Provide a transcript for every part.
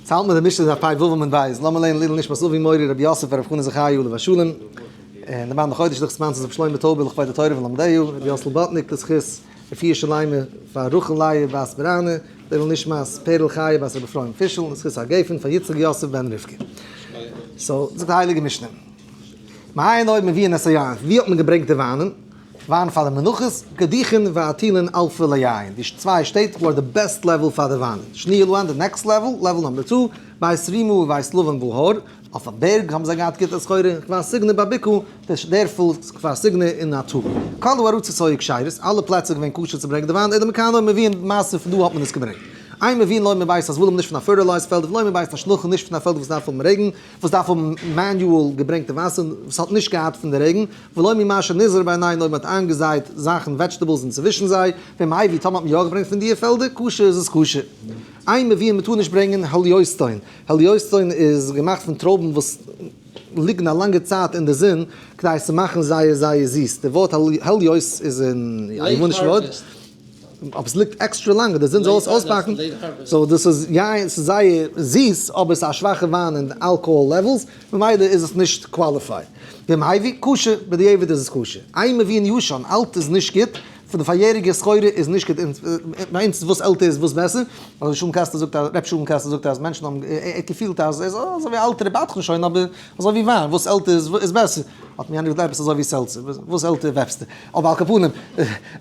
צייט מען די משנה זיי פיי וואוו מען ווייסט לאמיר לערנען לעילא נשמת אבי מורי רבי יוסף פאר רבי חנא זכרי' עליו השלום און די מן החודש דאס מאנס איז רבי שלמה טויבער לכבוד די תורה ולומדיה רבי יוסל באטניק לזכות רפואה שלימה פאר רחל לייב בת ברנע לעילא נשמת פערל חיה בת רבי אפרים פישל לזכות הגפן פאר יצחק יוסף בן רבקה סאו זאגט די הייליגע משנה מעיין עיון מביאין את היין ווי האט מען געברענגט די וויינען? וויין פאר די מנחות, קדיחין ועטילין אלפא ליין, די צוויי שטעט וואו אר די בעסט לעוועל פאר די וויינען, שני לויין די נעקסט לעוועל, לעוועל נאמבער צו, בית רימא ובית לבן בהר, אויף א בערג האבן זיי געהאט גוטע סחורה, און כפר סיגנא ביי ביקעו, די דערפל כפר סיגנא אין נאטור, כלו ארץ ישראל כשרות, אלע פלעצער איז געווען כשר צו ברענגען די וויין, אידען מקאנא און מוויען, מעשה פון דא האט מען עס געברענגט, איין מוויען לויין מבית הזבלים נישט פון א פערטילייזד פעלד, ולויין מבית השלחן נישט פון א פעלד וואס דארף האבן רעגן, וואס דארף האבן מעניועל געברענגטע וואסער וואס האט נישט געהאט פון די רעגן, ולא ממה שנזרע בעיניי נאר מען האט איינגעזייט זאכן וועדזשטעבלס און צווישן זיי, ווען מען אייווי טאמער האט מען יא געברענגט פון דיע פעלדער כשר איז עס כשר. איין מבין מען טאר נישט ברענגען העליוסטאון, העליוסטאון איז געמאכט פון טרויבן וואס ליגן א לאנגע צייט אין די זון כדי צו מאכן זייער זייער זיס, די ווארט העליוס איז אין א איבעניש ווארט. אבער ס'ליגט עקסטרע לאנג און די זון זאל עס אויסבאקן, סאו דאס איז יין ס'איז זייער זיס אבער ס'איז א שוואכע וויין אין די אלקאהאל לעוועלס ממילא איז עס נישט קוואליפייד. וועם הייווי? כשר, בדיעבד איז עס כשר. איין מבין ישן, אלט איז נישט גוט, פון די פאריעריגע סחורה איז נישט גוט, ביי אונז איז וואס עלטער איז וואס בעסער, ר' שלום קאסטער זאגט אז ר' שלום קאסטער זאגט אז מענטשן האבן געפילט אז עס איז אזויווי אלטערע בדחן שוין אבער אזויווי וויין וואס עלטער איז בעסער, האט מיר איינער געזאגט עפעס אזויווי סעלצער, וואס עלטער וועפסטו. אבער על כל פנים,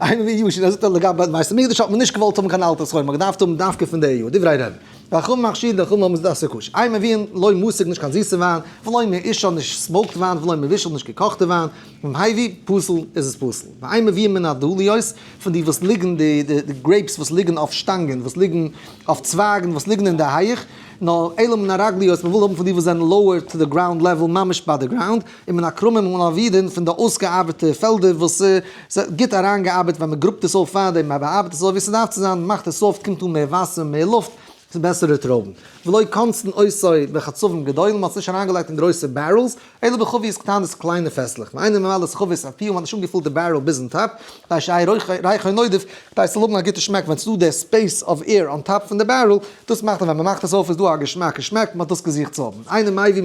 איינער ווי יאשי זאגט אז לגבי בית המקדש האט מען נישט געוואלט האבן קיין אלטע סחורה, מען האט געדארפט האבן דווקא פון די יאר, דברי ר' נחום מכשיר די חמר מוסדות צו כוש, איי מבין לוי משיג נישט קיין זיסע וויין, ולוי מעישן נישט סמאוקט וויין, ולוי מעיבישל נישט געקאכטע וויין, און איי ווי פסול איז עס פסול, ואיי מביאים מן הדליות פון די וואס ליגן די די גרעיפס וואס ליגן אויף שטאנגען וואס ליגן אויף צווייגן וואס ליגן אין די הייעך, נאר אלא מן הרגליות מען וויל האבן פון די וואס זענען לאוער טו די גראונד לעוועל ממש ביי די גראונד. און מן הכרמים און אבידין פון די אויסגעארבעטע פעלדער וואס ס'איז גוט אריינגעארבעט ווען מען גראבט עס אויף פאר דעם מען באארבעט עס אזוי ווי ס'דארף צו זיין מאכט עס סאפט קומט אן מער וואסער מער לופט צו בעסערע טרויבן ולא קונצן עושי בחצבים גדולים מען האט עס נישט אריינגעלייגט אין גרויסע בערעלס אלא בחביות קטנות קליינע פעסלעך ואינו ממלא את חבית הפיו מען האט נישט אנגעפולט די בערעל ביזן טאפ כדי שיהיה רייך ונודף כדי ס'זאל האבן א גוטע שמעק ווען ס'איז דא די ספעיס אוו עיר אן טאפ פון די בערעל דאס מאכט אז ווען מען מאכט עס אויף איז דא א געשמאק געשמעק מען האט דאס געזוכט צו האבן אינו מביא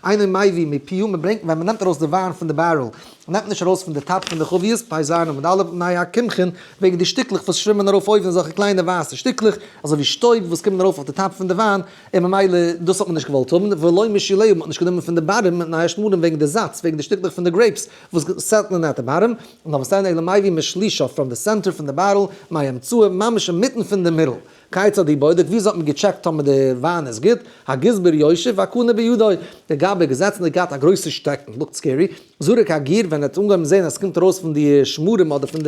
איינער מייווי מפיו, מען ברענגט ווען מען נעמט ארויס די וויין פון די בערעל, מען נעמט נישט ארויס פון די טאפ פון די חביות, פאי זיין עמוד א', מי הקמחין, וועגן די שטיקלעך וואס שווימען ארויף אויבן אזעלכע קליינע ווייסע שטיקלעך, אזוי ווי שטויב וואס קומען ארויף אויף די טאפ פון די וויין, און ממילא דאס האט מען נישט געוואלט האבן, ולא משילהו, מען האט נישט גענומען פון די בארעם, מי השמרים, וועגן די זאץ, וועגן די שטיקלעך פון די גרעיפס וואס סעטלען אט די בארעם, נאר וואס דען אלא מייווי משלישו, פראם די סענטער פון די בערעל, מי האמצעו, ממש אינמיטן פון די מירל, כיצד היא בודק, וויאזוי האט מען געטשעקט טאמער די וויין איז גוט, הגזבר יושב והקנה בידו, דער גבאי געזעצן און געהאט א גרויסע שטעקן, לוקט סקערי, זרק הגיר, ווען ער האט אנגעהויבן זעהן אז עס קומט ארויס פון די שמרים אדער פון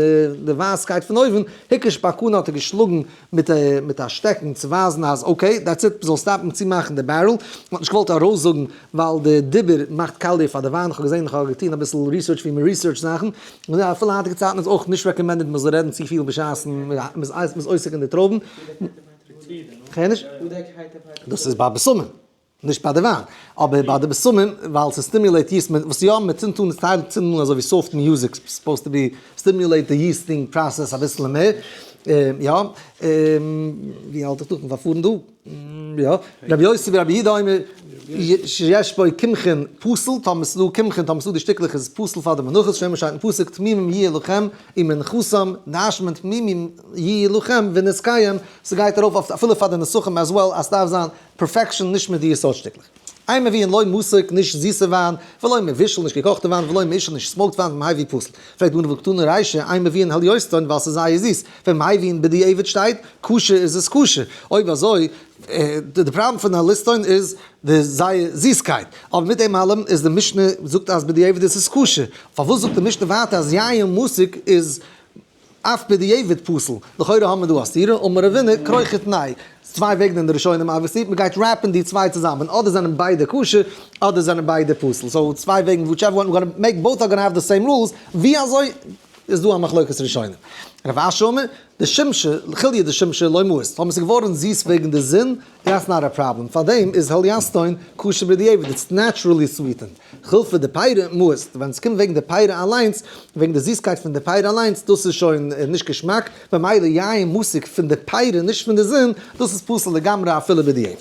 די ווייסקייט פון אויבן, הקיש בהקנה האט ער געשלאגן מיט א שטעקן צו ווייזן אז אקעי דעטס איט, מען זאל סטאפן צומאכן די בערעל, מען האט נישט געוואלט ארויסזאגן. ווייל די דיבור מאכט קאליר פאר די וויין, איך האב געזען, איך האב געטון אביסל ריסערטש ווי מען ריסערטשט זאכן, און געזען אז אפילו אין היינטיגע צייטן איז אויך נישט רעקאמענדעד מען זאל רעדן צופיל בשעת'ן מען איז עוסק אין די טרויבן, כ'הער נישט? דאס איז ביי בשמים, נישט ביי די וויין, אבער ביי די בשמים ווייל ס'סטימיולעיט יעסט, וואס יא, מען צינדט אן, ס'טייל צינדן אן אזוי ווי סאפט מיוזיק, סופאוזד טו בי סטימיולעיט די יעסטינג פראסעס אביסל מער, יא, ווי האלט איך דא? כ'בין פארפארן דא. יא, רבי יוסי ברבי יהודה אומר שיש בו קמחין פסול, טאמעס לא קמחין טאמעס לא די שטיקלעך איז פסול פאר די מנחות, שנאמר שטייט אין פסוק תמימים יהיה לכם און מנחתם, נשמין תמימים יהיה לכם ונזקיהם, ס'גייט ארויף אויף אפילו פאר די נסכים עז וועל אז ס'דארף זיין פערפעקשאן נישט מיט די יסוד שטיקלעך. איין מבין, לא מוסק, נישט זיסע וויין, ולא מבושל, נישט געקאכטע וויין, ולא מעישין, נישט סמאוקט וויין, ומהאי ווי פסל? פרעגט די אנוואו קטנה ריישע, איין מבין העל יוסטאן, ווייל ס'איז זייער זיס, ווען מהאי ווי אין בדיעבד שטייט, כשר איז עס כשר, אויב אזוי, די פראבלעם פון העל יוסטאן איז די זייער זיסקייט, אבער מיט דעם אלעם איז די משנה זאגט אז בדיעבד איז עס כשר, פארוואס זאגט די משנה ווייטער אז יין מוסק איז. אויף בדיעבד פסול, לכאורה האבן מיר דא א סתירה, אמר אבינו כרוך את ניי, צוויי וועגן אין די ראשונים אבוויסלי, מען גייט רעפן די צוויי צוזאמען, אדער זענען ביידע כשר, אדער זענען ביידע פסול, סאו צוויי וועגן וויטשעווער וואן, גאנע מעיק בויט אר גאנע העוו די סעים רולס, ווי אזוי איז דא א מחלוקת ראשונים? רב אשי אומר, די שמשה, כילי' די שמשה לא מועסט, האבן עס איז געווארן זיס וועגן די זון, דעטס נאט א פראבלעם, פאר דעם איז העליאסטאון כשר בדיעבד, איטס נעטשרעלי סוויטענד, חוץ פאר די פייערע מוסט, ווען עס קומט וועגן די פייערע אליינס, וועגן די זיסקייט פון די פייערע אליינס, דאס איז שוין נישט געשמאק, ממילא יין משיג פון די פייערע נישט פון די זון, דאס איז פסול לגמרי אפילו בדיעבד.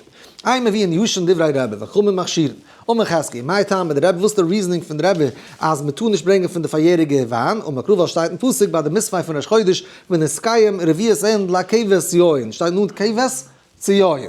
איי מביאים ישן דברי רבי וחכמים מכשירין, אמר חזקי, מאי טעמא דרבי וואס איז די ריזענינג פון רבי אז מען טאר נישט ברענגען פון די פאריעריגע וויין, אמר קרא ווייל שטייט אין פסוק ביי די מספי' פון ראש חודש ונזקיים רביעית ענד לה כבש יין, שטייט נאנט כבש, ציון.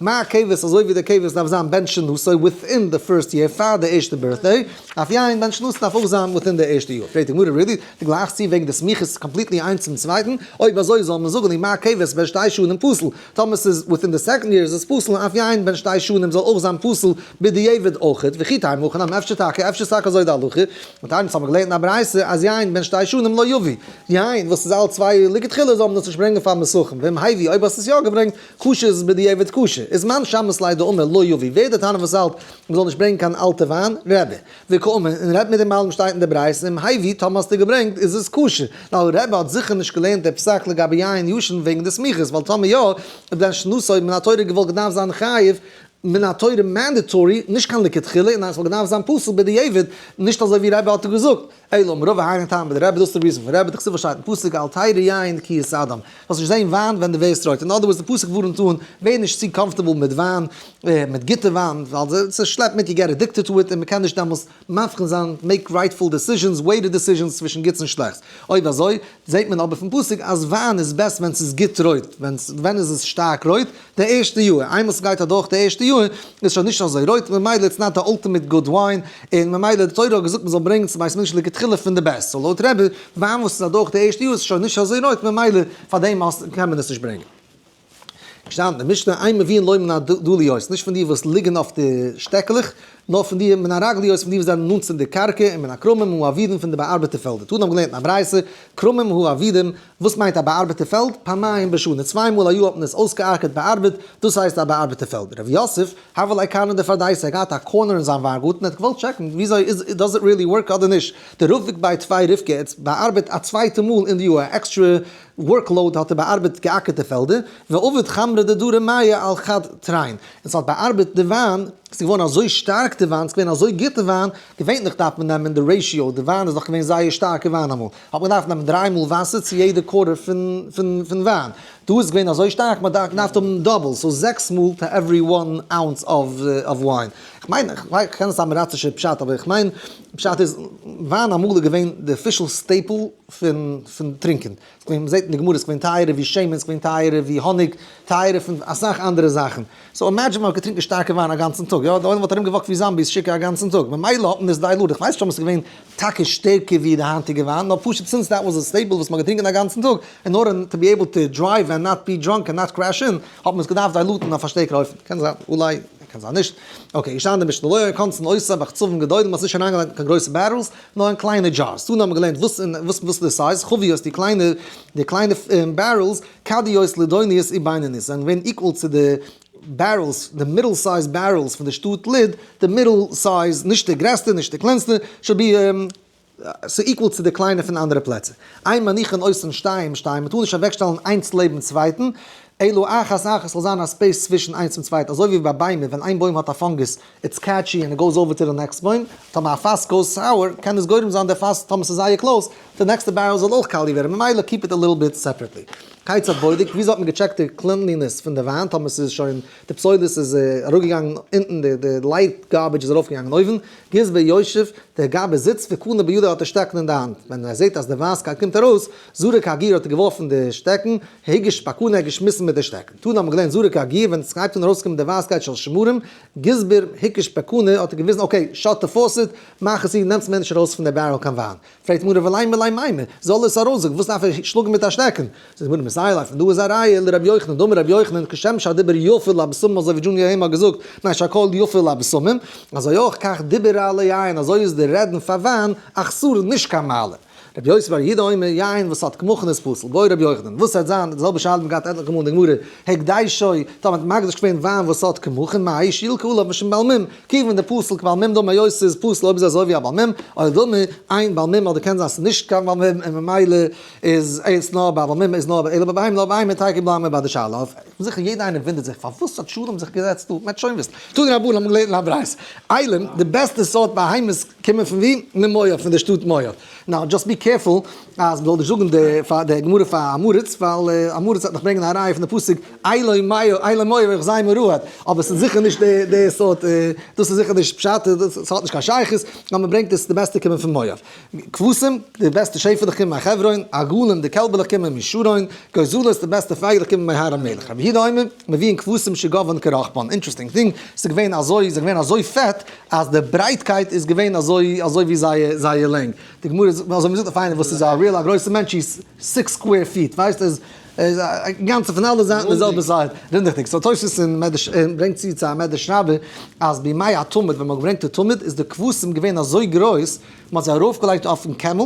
מה הכבש אזוי ווי די כבש דארף זיין בן שנתו וויטין די פירסט יער פאר די ערשטע בירטדעי, אויף יין בן שנתו דארף אויך זיין וויטין די ערשטע יאר. פרעגט די גמרא רידי, די גלייכסט צו וועגן די סמיכות קאמפליטלי איינס צום צווייטן? אויב אזוי זאל מען זאגן אין מה הכבש בן שתי שנים פסול, טאמער ס'איז וויטין די סעקאנד יאר איז עס פסול און אויף יין בן שתי שנים זאל אויך זיין פסול, בדיעבד אויכעט, וכי תימא אוכן אמר אפשר טאקע, אפשר איז טאקע אזוי די הלכה, און תענית האט מען געלערנט אין א ברייתא אז יין בין שתי שנים לא יביא, יין וואס איז אלט צוויי יאר לכתחילה זאל מען דאס נישט ברענגען פאר מסכים, ואם הביא אויב האסט עס יא געברענגט כשר איז עס בדיעבד כשר, איז מאן שאמרת ליה דאמר לא יביא, ווער איז דער תנא וואס האלט מען זאל נישט ברענגען קיין אלטע וויין, רעבע, וקאומען, און רעדט מיט דעם אלעם שטייט אין די ברייתא אם הביא טאמער האסטו געברענגט איז עס כשר, ווייל רעבע האט זיכער נישט געלערנט דער פסק לגבי יין ישן וועגן די סמיכות, ווייל טאמער יא, איז דען שנתו מן התורה געוואלט געדארפט זיין חייב מן התורה מענדעטארי, נישט קיין לכתחילה, און אז ס'וואלט געדארפט זיין פסול בדיעבד, נישט אזוי ווי רבי האט געזאגט, אלא אמרו והיינו טעם ביי די רבי, דאס איז דער ריזן פון רבי, דער כסדר שטייט אין פסוק אל תראה יין כי יסדם, זאלסט נישט זען וויין ווען דו ווערסט רויט, אין אדער ווארדס דער פסוק ווארנט אן, ווער נישט צו קאמפארטעבל מיט וויין, מיט גוטע וויין, ווייל ס'שלעפט מיט יו געט עדיקטעד טו איט און מ'קען נישט דעמאלס. מבחין זיין, מעיק רייטפול דעסיזשענס, וועיטעד דעסיזשענס צווישן גוטס און שלעכטס. אויב אזוי, זעט מען אבער פון פסוק אז וויין איז בעסט ווען ס'איז גוט רויט. ווען איז עס שטארק רויט? די ערשטע יאר. איינמאל ס'גייט אדורך די ערשטע יאר, איז שוין נישט אזוי רויט, ממילא איטס נאט די אלטימעט גוד וויין, און ממילא די תורה האט געזאגט מ'זאל ברענגן צום בית מדרש לכתחילה פון די בעסט. סאו לויט רבי, וויין וואס איז אדורך די ערשטע יאר איז שוין נישט אזוי רויט, ממילא פאר דעם קען מען עס נישט ברענגען. געשטאנען אין משנה איין מבין לוי מן הדליות, נישט פון די וואס ליגן אויף די שטעקלעך, נאר פון די מן הרגליות פון די וואס זענען נאנט צו די קרקע, און מן הכרמים הוא אבידים פון די באארבעטע פעלדער. תנא האבן געלערנט אין א ברייתא, כרמים הוא אבידים, וואס מיינט א באארבעטע פעלד? פעמיים בשנה, צוויי מאל א יאר האט מען עס אויסגעארקעט, באארבעט, דאס הייסט א באארבעטע פעלד. ר' יוסף, הבל אי קארנא דפרדייסא, ער האט געהאט א קארנער אין זיין וויינגארטן, ער האט געוואלט טשעקן וויאזוי איז, דאז איט ריעלי ווארק אדער נישט, די רב וועגט ביי טוויי רבקה, ער האט באארבעט א צווייטע מאל אין די יאר, א עקסטרע ווארק לאוד האט ער באארבעט געאקערטע פעלדער, ועובד חמרא דדורא מיה על חד טריין, און ס'האט באארבעט די וויין, ס'איז געווארן אזוי שטארק די וויין, ס'איז געווען אזוי גוטע וויין, געווענליך דארף מען נעמען די רעישיאו, די וויין איז דאך געווען זייער שטארקע וויין אמאל, האט מען געדארפט נעמען דריי מאל וואסער צו יעדע קארער פון וויין, דא איז עס געווען אזוי שטארק מ'האט געדארפט האבן דאבל, סאו זעקס מאל טו עווערי וואן אונס אוו וויין, כ'מיין, כ'קען נישט סתם א ראצישע פשט אבער כ'מיין פשט איז וויין אמאל איז געווען די אפישעל סטעיפל. פון פון טרינקען, ס'איז געווען, מ'זעט אין די גמרא, ס'איז געווען טייערער ווי שמן, ס'איז געווען טייערער ווי האניג, טייערער פון אסאך אנדערע זאכן, סאו אימעדזשין מ'האט געטרינקען שטארקע וויין א גאנצן טאג, יא, די עולם וואלט ארום געוואקט ווי זאמביס שיקער א גאנצן טאג, ממילא האט מען עס דיילוט, איך ווייס נישט אויב עס איז געווען טאקע שטערקער ווי די היינטיגע וויין, נאר פשוט סינס דעט וואס די סטעיפל וואס מ'האט געטרינקען א גאנצן טאג, אין ארדער טו בי עיבל טו דרייוו און נאט בי דראנק און נאט קרעש אין, האט מען עס געדארפט דיילוטן אויף א שטערקערע אופן, קען זיין, אולי, קען זיין נישט, אקעי, געשטאנען אין די משנה לא יהיה קונצן אויסער באכצבים גדולים, מ'האט עס נישט אריינגעלייגט אין קיין גרויסע בערעלס, נאר אין קליינע דזשארס, דאן האט מען געלערנט וואס און וואס וואס די סייז, חביות, די קליינע די קליינע בערעלס, קדיות, לדוניות, און בינוניות, זענען געווען איקוואל צו די בערעלס, די מיטל סייז בערעלס פון די שטאט לוד, די מיטל סייז, נישט די גרעסטע, נישט די קלענסטע, שו ב, ס'איז איקוואל צו די קליינע פון אנדערע פלעצער. איין מנוחה און אויסן שטיים שטיין, מ'טאר נישט אוועקשטעלן איינס לעבן צווייטן, אלא אחת אחת, ס'זאל זיין א ספעיס צווישן איינס צום צווייטן, אזוי ווי ביי ביימער, ווען איין בוים האט א פאנגוס, איטס קעטשי ענד איט גאוס אווער טו די נעקסט בוים, טאמער א פאס גאוס סאוער קען עס גורם זיין די פאס טאמער ס'איז זייער קלאוס די נעקסטע בערעל זאל אויך קאלי ווערן ממילא קיפ איט א ליטל ביט סעפערעטלי. כיצד בודק? וויאזוי האט מען געטשעקט די קלינלינעס פון די וויין טאמער ס'איז שוין די פסולת איז אראפגעגאנגען אונטן די די לייט גארבידזש איז ארויפגעגאנגען אויבן גיז ביושב דער גאב איז זיצט וקנה בידו האט די שטעקן אין די האנט ווען ער זעט אז די ווייסקייט קומט ארויס זרק הגר האט ער געווארפן די שטעקן היגש פקנה ער האט געשמיסן מיט די שטעקן טאן האט מען געליינט זרק הגר ווען ס'הייבט אן ארויסקומען די ווייסקייט של שמרים גזבר היקש בעקנא האט ער געוויזן אקעי שאט די פאוסעט מאך עס צו נעמטס מער נישט ארויס פון די בערעל קיין וויין, פרעגט מוהרא וועלאי מילאי מימי זאל עס ארויסזאגן וואס דארף ער שלאגן מיט א שטעקן, זאגט גמרא מסייעתא אויף און דא איז א ראיה לר' יוחנן דאמר ר' יוחנן כשם שהדיבר יפה לבשמים אזוי ווי דזשוניאר העם האט געזאגט מי שהקול יפה לבשמים אזוי אויך כך דיבר רע ליין אזוי איז די רעדן פאר וויין אכסור נישט קיין מעלה. רבי יוסף בר יהודה אומר, יין וואס האט כמוכן איז פסול, ועוד רבי יוחנן, וואס ס'העט זיין, די זעלבע שאלה האט מען געהאט עטליכע מאל אין די גמרא, הקדשי, טא מ'האט מקדש געווען וויין וואס האט כמוכן, מהאי שילקא עליו משום בעל מום, כיוון די פסול כבעל מום דאמר יוסף ס'איז פסול אויב איז אזוי ווי א בעל מום, אוי דאמר אין בעל מום אדער קען זיין ס'איז נישט קיין בעל מום און ממילא איז עס נאר ביי א בעל מום איז נאר אלא ביי בהמה, נאר בהמה איז טייקע בלמ א ביי די שאלה אויף, כ'בין זיכער יעדע איינער וואונדערט זיך פארוואס האט שלום זיך געזעצט דא, מ'עט שוין וויסן, טאג רבון האט מען געלערנט אין א ברייתא, איילען, די בעסטע סארט בהמות, קומען פון ווי? ממויאב, פון די שטאט מואב. נאו דזשאסט בי קערפול אז מ'זאל נישט זאגן די גמרא פאר אמורית, ווייל אמורית וועט נאך ברענגען א ראיה פון די פסוק אילון מואב איך זיי מרועד, אבער ס'איז זיכער נישט די סארט, דאס איז זיכער נישט פשט, דאס האט נישט קיין שייכות, נאר מ'ברענגט עס די בעסטע קומען פון מואב. כבשים, די בעסטע שעפעלעך קומען מיין חברון, עגלים, די קעלבעלעך קומען מיין שרון, גוזלות, די בעסטע פייגלעך קומען מיין הר המלך. רבי יהודה אומר, מביאים כבשים שגווען כרחפן, אינטרעסטינג טינג, ס'איז געווען אזוי, זיי זענען געווען אזוי פעט, אז די ברייטקייט איז געווען אזוי אזוי ווי זייער זייער לענג, די גמרא זאגט אזוי ווי מ'זאגט אויף איינער וואס איז א ריעל א גרויסע מענטש איז סיקס סקווער פיט ווייסט איז איז אינגאנצן פון אלע זייטן די זעלבע זייט רונדיכדיג סאו תוס' אין מדרש אין ברענגט צו צו א מדרש רבה אז בימי התמיד ווען מ'האט געברענגט די תמיד איז די כבשים געווען אזוי גרויס מ'האט זיי ארויפגעלייגט אויפן קעמל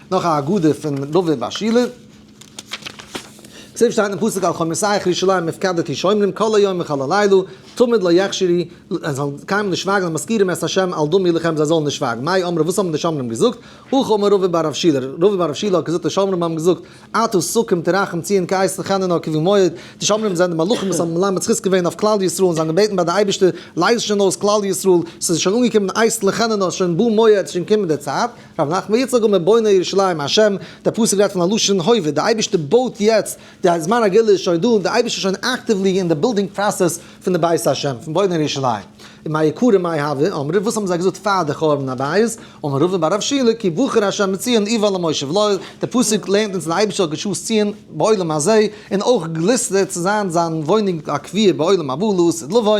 נאך א הגדה פון דוד בר שילא. צוריק שטייט אין פסוק על חומותייך ירושלים הפקדתי שומרים כל היום וכל הלילה תמיד לא יחשירי זיי זאלן קיינמאל נישט שווייגן און מזכירים את השם על דמי לחם זיי זאלן נישט שווייגן מאי אמרו וואס האבן די שומרים געזאגט הכא אמר רבא בר רב שילא רבא בר רב שילא האט געזאגט די שומרים האבן געזאגט אתה סוקים תרחם ציון כעס לחננה כבן מועד די שומרים זענען די מלאכים וואס האבן מלמד זכות געווען אויף כלל ישראל און זיי האבן געבעטן ביי די אייבערשטער לייז שוין אויס כלל ישראל ס'איז שוין אנגעקומען די עת לחננה שוין בא מועד שוין קומען די צייט רבי נחמן יצחק אומר בונה ירושלים ה', דער פסוק רעדט פון א לשון הווה, די אייבערשטער בויט יעצט, די זמן הגאולה איז שוין דא און די אייבערשטער איז שוין אקטיוולי אין די בילדינג פראסעס פון די בית ה', פון בונה ירושלים. און מה יקרה ומה יהווה, אמרו וואס האבן זיי געזאגט פאר די חורבן הבית, אמר ראובן ביי רב שילה כי בחר ה' את ציון איוה למושב לו, דער פסוק לערנט אונז אז די אייבערשטער האט געשאסט ציון בעולם הזה, און אויך גליסטערט צו זיין זיין וואוינונג הקבוע בעולם הבא לעתיד לבוא,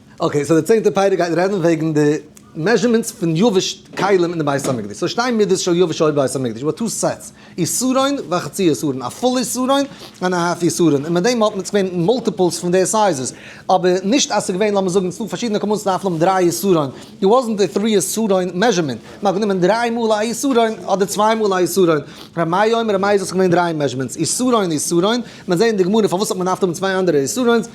אקעי, סאו די צענטע פרק גייט רעדן וועגן די מעזשערמענטס פון יבש כלים אין די בית המקדש. סאו שטיין מידות של יבש אויל בבית המקדש וואס טו סעטס, יסרון וחצי יסרון, א פול יסרון ענד א האלף יסרון, און מיט דעם האט מען עס געווען מאלטיפעלס פון די סייזעס, אבער נישט אז עס איז געווען לאמיר זאגן צו פארשידענע כמות דארף מען האבן דריי יסרון, איט וואזענט א טרי יסרון מעזשערמענט, מען האט גענומען דריי מאל א יסרון אדער צוויי מאל א יסרון, ר' מאיר אומר אז עס איז געווען דריי מעזשערמענטס, יסרון יסרון, מען זעט אין די גמרא פארוואס האט מען דארפט האבן צוויי אנדערע יסרון'ס,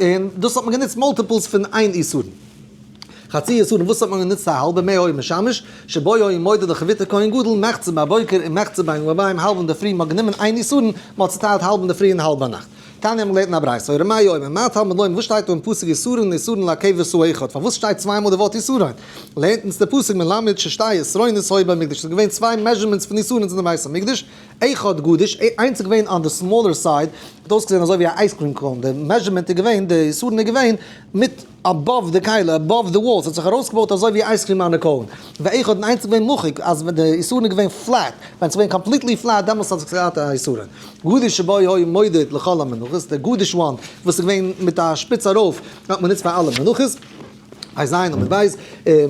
און דאס האט מען גענוצט מאלטיפעלס פון איין איסורין. חצי איסורין וואס האט מען גענוצט א האלבע מי האור משמש, שבו יאיר מודד די חבית הכהן גדול מחצה בבוקר און מחצה ביין וביים האלב אינדערפרי מען האט גענומען איין איסורין מען האט צוטיילט האלב אינדערפרי און האלב ביינאכט. תניא האט מען געלערנט אין א ברייתא הורה מה יאמר מה תלמוד לומר וואס שטייט דא אין פסוק איסורין איסורין להקב עשו אחד פארוואס שטייט צוויי מאל די ווארט איסורין לערנט אונז דער פסוק מלמד ששתי עשרונות היו במקדש ס'איז געווען צוויי מעזשערמענטס פון איסורין אין די בית המקדש איך האט גארנישט איינס איז געווען אן די סמאלער סייד האט אויסגעזען אזוי ווי א אייז קרים קאון די מעזשערמענט איז געווען די יסודן איז געווען מיט אבאוו די קהלה אבאוו די וואלס האט זיך ארויסגעבויט אזוי ווי אייז קרים אנע קאון ואיך האט איינס איז געווען מוחק אז ווען די יסודן איז געווען פלעט ווען עס איז געווען קאמפליטלי פלעט דעמאלס האט זיך געהאט א יסודן גארנישט שבו היה מודד לכל המנחות די גארנישט וואנט וואס איז געווען מיט א שפיץ ארויף האט מען גענוצט פאר אלע מנחות. א ז און ב איז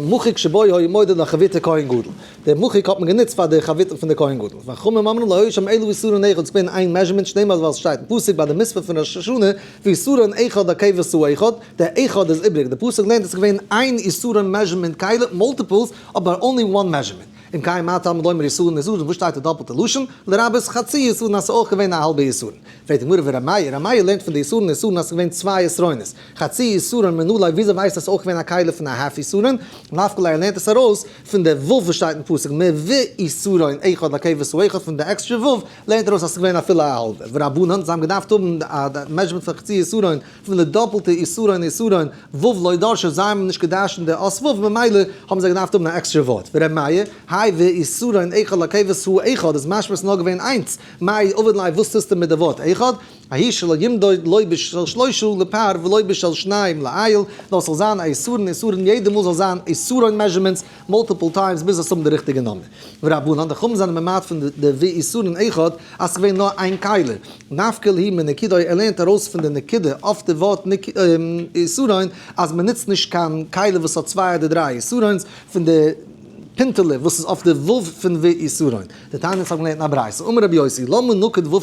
מחוק שבו היה מודד לחבית כהן גדול, די מחוק האט מען גענוצט פאר די חבית פון די כהן גדול, והחכמים אמרו לא היו שם אלא איסורין אחד, ס'איז געווען איין מעזשערמענט שנאמר ווייל ס'שטייט אין פסוק ביי די מספר פון ראש השנה ואיסורין אחד הכבש הוא אחד, די אחד איז איבריג, די פסוק לערנט אז ס'איז געווען איין איסורין מעזשערמענט כלה מאלטיפלס אבער אנלי וואן מעזשערמענט, אם כן מה הטעם לומר איסורין איסורין וואס שטייט די דאפלטע לשון, לרבות חצי איסורין אז ס'איז אויך געווען א האלבע איסורין, פרעגט די גמרא ורמיה, רמיה לערנט פון די איסורין איסורין אז ס'איז געווען צוויי עשרונות, חצי יסורין מן אולי וויאזוי ווייסט אז עס איז אויך געווען א כלה פון א האף יסורין, נפק ל ער לערנט עס ארויס פון די ו' וואס שטייט אין פסוק מ ו יסורין אחד לקבץ הוא אחד פון די עקסטרע ו' לערנט ער ארויס אז עס איז געווען אפילו א האלבע, ורבנן זיי האבן געדארפט האבן א מעזשערמענט פון חצי יסורין פון די דאפלטע יסורין יסורין ו' לא דרשו זיי האבן נישט געדרשנט די אות ו' ממילא האבן זיי געדארפט האבן א עקסטרע ווארט ור' מאיר האי ו יסורין אחד לקבץ הוא אחד איז משמע עס איז נאר געווען איינס מאי עביד ליה וואס טוסטו מיט די ווארט אחד ההיא שלא ימדוד לויבש של שלושה לפאר ולויבש של שניים לאייל, נאר ס'זאל זיין א איסור און איסור און יעדע מאל זאל זיין איסור און מעזשערמענטס מאלטיפל טיימס ביז עס האבן די ריכטיגע נאמען. ורבנן, די חכמים זענען ממעט פון די ווי איסור און אחד אז ס'געווען נאר איין כלה. נפקא להיא מנקידוי ער לערנט ארויס פון די נקודה אויף די ווארט איסורין אז מ'נוצט נישט קיין כלה וואס האט צוויי אדער דריי איסורינס פון די פינטעלע וואס איז אויף די ו' פון ווי איסורין. די תענית האבן געלערנט א ברייתא, אמר רבי יוסי, למה נוקד ו'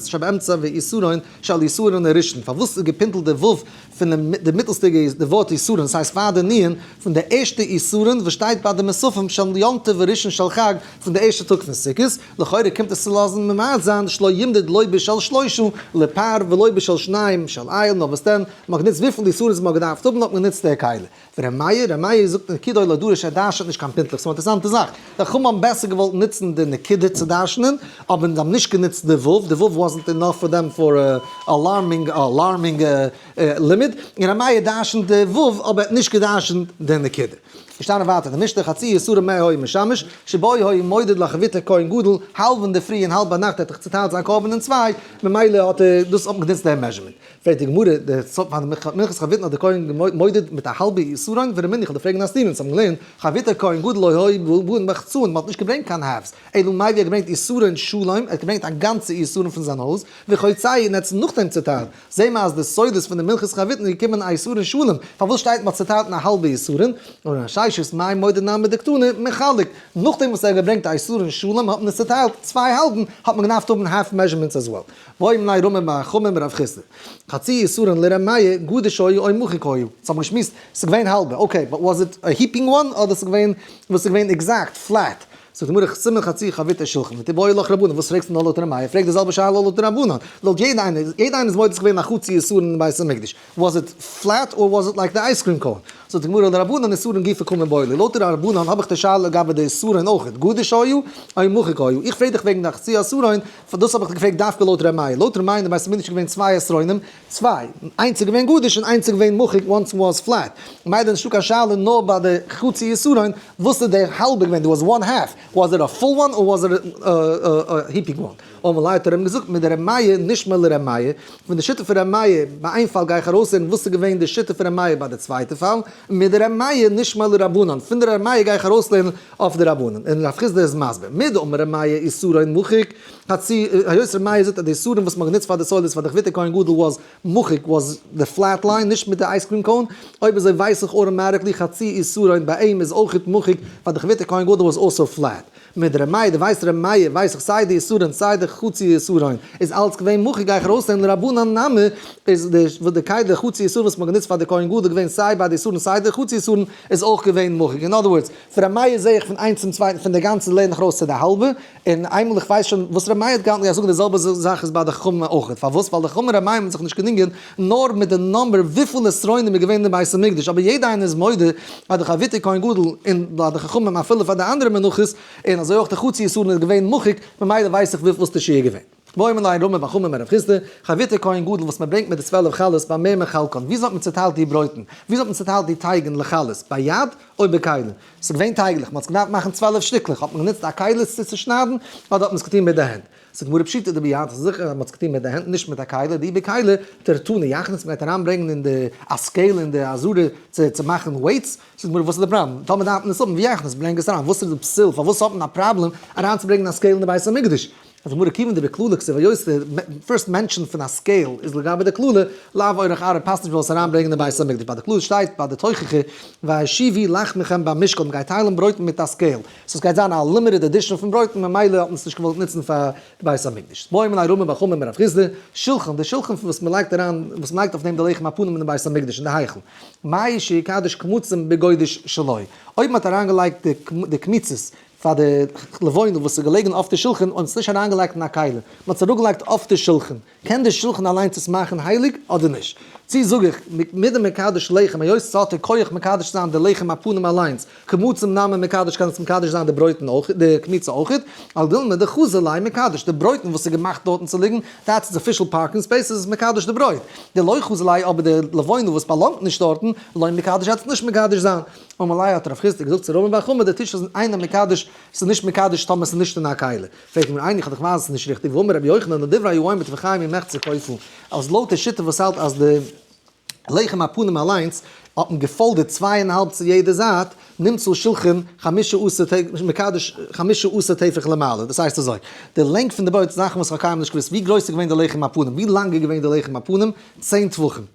שבאמצע ואיסורין שעל איסורין הראשון, פארוואס איז געפינטלט די ו' פון די מיטלסטיגע די ווארט איסורין, ס'הייסט פאר די ענין פון די ערשטע איסורין וואס שטייט ביי די מסופים של יום טוב וראשון של חג פון די ערשטע טאג פון סוכות, לכאורה קומט עס צו לאזן ממעט זיין שלא ימדד לא בשל שלושה לפר ולא בשל שניים שעל איל, נאר וואס דען, מ'האט גענוצט וויפיל איסורין ס'מ'האט געדארפט האבן האט מען גענוצט די כלי. ר' מאיר, ר' מאיר זאגט נקודה אוי לא דורש ער דרשנ'ט נישט קיין פונטליך, ס'איז אינטערסאנטע זאך, די חכמים האבן בעסער געוואלט נוצן די נקודה צו דרשנ'ען, אבער זיי האבן נישט גענוצט די ו', די ו' וואזענט אינאף פאר דעם פאר אלארמינג אלארמינג לימוד, און ר' מאיר דרשנ'ט די ו' אבער ער האט נישט געדרשנ'ט די נקודה. געשטאנען ווייטער די משתה חצי יסורים מאה הוי משמש, שבו הוי מודד לחביתו כהן גדול, האלב אינדערפרי און האלב ביינאכט ער האט דאך צוטיילט זיין קרבן אין צוויי, ממילא האט ער דאס אפגענוצט דעם מעזשערמענט. פרעגט די גמרא, די סוף פאר מנחת חביתן האט די כהן געמודעט מיט א האלבע איסורין, ווער מניח די פרעגן א סתירה, אונז האבן געלערנט, חביתא כהן גדול לא היה בו בו און מחצה און מען האט נישט געברענגט קיין הארבס, אלא מאי ווי ער האט געברענגט איסורין שלום, ער האט געברענגט א גאנצע איסורין פון זיין הויז, וכיוצא און ער האט עס נאכדעם צעטיילט, זעהן מיר אז די סודות פון די מנחת חביתן איז געקומען א איסורין שלום, פארוואס שטייט מען האט צעטיילט אין א האלבע איסורין, און אין ששית מאי מודען נמי דקטני מחלק, נאכדעם וואס ער האט געברענגט א איסורין שלום האט מען עס צעטיילט צוויי האלבן, האט מען געדארפט האבן הארף מעזשערמענטס עז וועל. ואוי מנין רומם מהחומם רב חיסדא. חצי יסורין לר' מאיר, גדוש היו אוי מוחק היו. אונז האבן געשמועסט, ס'איז געווען האלבע, אקעי, באט וואס איט א היפינג וואן אדער ס'איז געווען וואס איז געווען עקזעקט, פלעט? זאגט די גמרא חסימא חצי חביתא שולחן ותו באי לך רבנן וואס פרעגסטו נאר לויט ר' מאיר פרעג די זעלבע שאלה לויט רבנן לויט יעדע איינער, יעדע איינער איז מודה ס'איז געווען א חצי יסורין אין בית המקדש. וואס איט פלעט אר וואס איט לייק די אייז קרים קאון? זאגט די גמרא לרבנן איסורין גופא קומין באילי, לויט די רבנן האב איך די שאלה לגבי די איסורין אויכעט, גדוש היו אוי מוחק היו, איך פרעג דיך וועגן די חצי אסורין, דאס האב איך דיך געפרעגט דווקא לויט ר' מאיר, לויט ר' מאיר אין די בית המקדש איז געווען צוויי אסרונים, צוויי, איינס איז געווען גדוש און איינס איז געווען מוחק, וואנס וואס פלעט, ממילא נישטא קיין שאלה נאר ביי די חצי אסורין, וואס איז די האלבע געווען, דא וואס וואן העלף, וואס איט א פול וואן אר וואס איט א היפינג וואן. אמר ליה האט ער אים געזאגט מיט די רמיה נשמע לרמיה, פון די שיטה פון רמיה ביי איין פאל גיי איך ארויסהערן וואס איז געווען די שיטה פון רמיה ביי די צווייטע פאל, מיט די רמיה נשמע לרבנן, פון די רמיה גיי איך ארויסלערנען אויף די רבנן, און רב חיסדא איז מסביר, מי דאמר רמיה איסור אין מוחק, הצי, היות רמיה זאגט אז די איסורים וואס מ'האט גענוצט פאר די סודות פאר די כבית'ער כהן גדול וואס מוחק וואס די פלעט ליין, נישט מיט די אייז קרים קאון, אויב אזוי ווייס איך אור מרת לי חצי איסור אין ביי אים איז אויכעט מוחק פאר די כבית'ער כהן גדול וואס אויסער פלעט. מיט ר' מאיר, די ווייסט ר' מאיר ווייס איך סיי די איסורין סיי די חצי איסורין, איז אלץ געווען מוחל גיי איך ארויסנעמען רבנן נמי, איז די וואס די קייט די חצי איסור וואס מ'האט גענוצט פאר די כהן גדול געווען סיי ביי די איסורין סיי די חצי איסורין איז אויך געווען מוחל, אין אדער ווארדס פון ר' מאיר זעה איך פון איינס צום צווייטן פון די גאנצע לערן איך ארויס צו די האלבע, און איינמאל איך ווייס שוין וואס ר' מאיר האט געהאלטן גיי איך זאגן די זעלבע זאך איז ביי די חכמים אויכעט, פארוואס ווייל די חכמים ר' מאיר האבן זיך נישט געדינגען. נאר מיט די נומבער וויפיל נצרונים איז געווען אין בית המקדש, אבער יעדע איינער איז מודה אז די חברותא כהן גדול און ביי די חכמים אפילו פאר די אנדערע מנחות, און אזוי אויך די חצי יסורים איז געווען מוחק, ממילא ווייס איך וויפיל איז די שיעור געווען. ואוי מן ליין רמא ואכמ אמר רב חיסדא, חברותא כהן גדול וואס מען ברענגט מיט די צוועלף חלות ביי מי מחלקן, וויאזוי האט מען צוטיילט די ברויטן, וויאזוי האט מען צוטיילט די טייגן לחלות, ביי יד אוי ביי כלים, ס'איז געווען טייגלעך, מען האט עס געדארפט מאכן צוועלף שטיקלעך, האט מען גענוצט א כלי עס צו צושניידן, אדער האט מען עס געטון מיט די הענט. ס'איז גמרא פשוטה דער ביהמ ד איז זיכער אז מ'האט עס געטון מיט די הענט נישט מיט א כלה, די בי כלה תרתו נייחנס מ'גייט אריינברענגן אין די א סקעיל אין די אזורי צו מאכן ווייטס, זאגט גמרא וואס איז די פראבלעם? טאמער דארף מען עס האבן ויחנס ברענג עס אריין וואס איז די פסיל פארוואס האט מען א פראבלעם אריינצוברענגן א סקעיל אין די בית המקדש? זאגט גמרא כיוון די בקללה כסא ויוסטה פירסט מענטשן פון א סקעיל איז לגבי די קללה לאו אורך ארוך פאסט נישט מ'זאל עס אריינברענגן אין בית המקדש ביי די קללה שטייט ביי די תוכחה והשיבי לחמכם במשקל מ'גייט טיילן ברויט מיט א סקעיל. סאו עס גייט זיין א לימיטעד עדישאן פון ברויטן ממילא האט מען עס נישט געוואלט נוצן פאר די בית המקדש. בוים און עירומים בחמם מרב חיסדא, שולחן, די שולחן פון וואס מען לייגט אריין, וואס מען לייגט אויף דעם די לחם הפנים אין די בית המקדש אין די היכל. מאי שיקדש קמצים בגודש שלו. אויב מען האט אריינגעלייגט די די קמיצות פאר די לבנה וואס איז געלעגן אויף די שולחן און מען האט עס נישט אריינגעלייגט אין א כלי, מען האט עס אראפגעלייגט אויף די שולחן, קען דער שלחן אליינס עס מאכן הייליג אדער נישט? צי זאג איך, מדה מקדש לחם, היות ס'האט א כח מקדש צו זיין די לחם הפנים אליינס, כמו צום נאמען מקדש קען עס מקדש זיין די ברויטן אויך, די קמיצה אויכעט, על דילמא דחזי ליה מקדש, די ברויטן וואס איז געמאכט דארטן צו ליגן, דעטס איט, אפישעל פארקינג ספעיס איז עס מקדש די ברויט, די לוי חזי ליה, אבער די לבונה וואס באלאנגט נישט דארטן, לוי מקדש העט עס נישט מקדש זיין. אמאל לייער האט רב חיסדא געזאגט צו רבין בר חמא, די טיש איז איינער מקדש, ס'איז נישט מקדש טאמער ס'איז נישט אין א קהלה. פרעגט מיר איינער איך האב דאך ווייזעס נישט ריכטיג וואו אמר רבי יוחנן די דברי היו עומד וחי מי מעכט זיך קויפן אז לויט די שיטה וואס האלט אז די לחם הפנים אליינס האט מען געפאלדערט צוויי און האלב צו יעדע זייט נמצא שלחן חמשה עשר טפח מקדש חמשה עשר טפח למעלה דאס הייסט אזוי די לענג פון די בויט זאכן וואס כ'האב קיינמאל נישט געוואוסט ווי גרויס איז געווען די לחם הפנים ווי לאנג איז געווען די לחם הפנים צען טפחים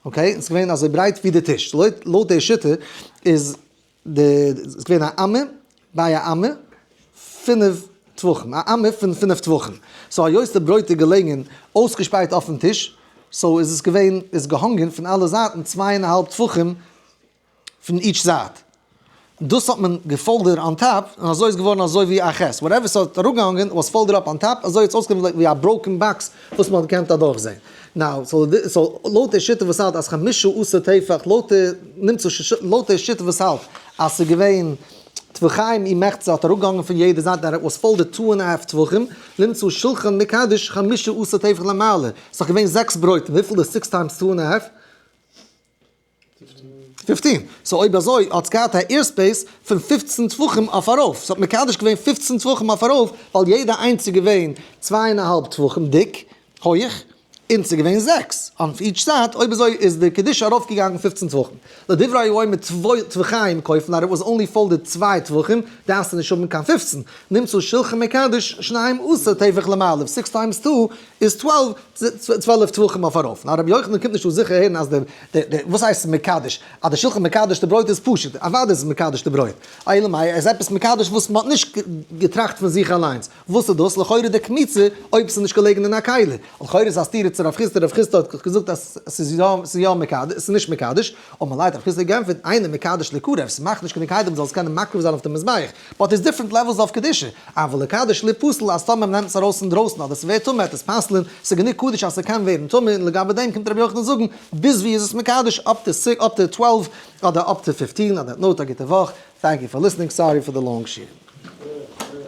אקעי ס'איז געווען אזוי ברייט ווי די טיש לויט לויט די שיטה איז. די איז געווען א אמה ביי א אמה פינף טווחים א אמה פון פינף טווחים סאו היות די ברויט איז געלעגן אויסגעשפרייט אויפן טיש סאו איז עס געווען איז געהאנגען פון אלע זייטן צוויי און א האלב טפחים פון איטש זייט דאס האט מען געפאלדער אן טאפ און אזוי איז געווארן אזוי ווי א ח' וואטעווער ס'האט אראפגעהאנגען וואס פאלדער אפ אן טאפ אזוי האט עס אויסגעזען ווי א בראוקען באקס וואס מען האט געקענט אדורך זעהן. נאו, סאו לויט די שיטה וואס האלט אז חמשה עשר טפח לויט די נמצא ש ש לויט די שיטה וואס האלט אז ס'איז געווען טפחיים און מחצה האט אראפגעהאנגען פון יעדע זייט דער וואס פאלט די טו ענד א האלף טפחים נמצא שלחן מקדש חמשה עשר טפח למעלה ס'איז דאך געווען זעקס ברויטן וויפיל איז סיקס טיימס טו ענד א האלף פֿופֿצן. סאו אויב אזוי האט עס געהאט א עיר ספעיס פון פֿופֿצן טפחים אויף ארויף, ס'האט מקדש געווען פֿופֿצן טפחים אויף ארויף, ווייל יעדע איינס איז געווען צוויי און א האלב טפחים דיק, הויעך, און ס'איז געווען זעקס אן איטש זייט, אויב אזוי איז די קדושה ארויף געגאנגען פֿופֿצן טפחים. לדברי היואל מיט צוויי טפחיים כופין הרי וואס אנלי פאלדעד צוויי טפחים דארפסטו נישט האבן קיין פֿופֿצן, נמצא שולחן מקדש שניים עשר טפח למעלה, סיקס טיימס טו איז צוועלף טפחים אויף ארויף, ניין רבי יוחנן קומט נישט אן זיכער הערן אז די די וואס הייסט מקדש? אז די שולחן מקדש די ברויט איז פשוט, אוודאי איז עס מקדש די ברויט, אלא מאי עס איז עפעס מקדש וואס מען האט נישט געטראכט פון זיך אליינס, וואס איז דאס? לכאורה די קמיצה אויב עס איז נישט געלעגן אין א קעלער, לכאורה איז א סתירה צו רב חיסדא, רב חיסדא האט געזאגט אז עס איז יא עס איז יא מקדש עס איז נישט מקדש, און מלייט רב חיסדא האט גענטפערט, איינער מקדש לקרב, עס מאכט נישט קיין דין קיידער מען זאל עס קענען מקריב זיין אויף די מזבח, באט איז דיפרענט לעוועלס אוו קדושה, אבל לקדש ל פסול אז טאמער מ'נעמט עס ארויס אינדרויסן אדער ס'ווערט טמא עטס פסל'ן, ס'גענוג קדוש אז ס'קען ווערן טמא און לגבי דעם קומט ר' יוחנן זאגן ביז ווי איז עס מקדש אפ טו סי אפ טו טוועלוו אדער אפ טו פיפטין אדער נאוט א גוטע וואך טענק יו פאר ליסנינג סארי פאר די לאנג שיעור.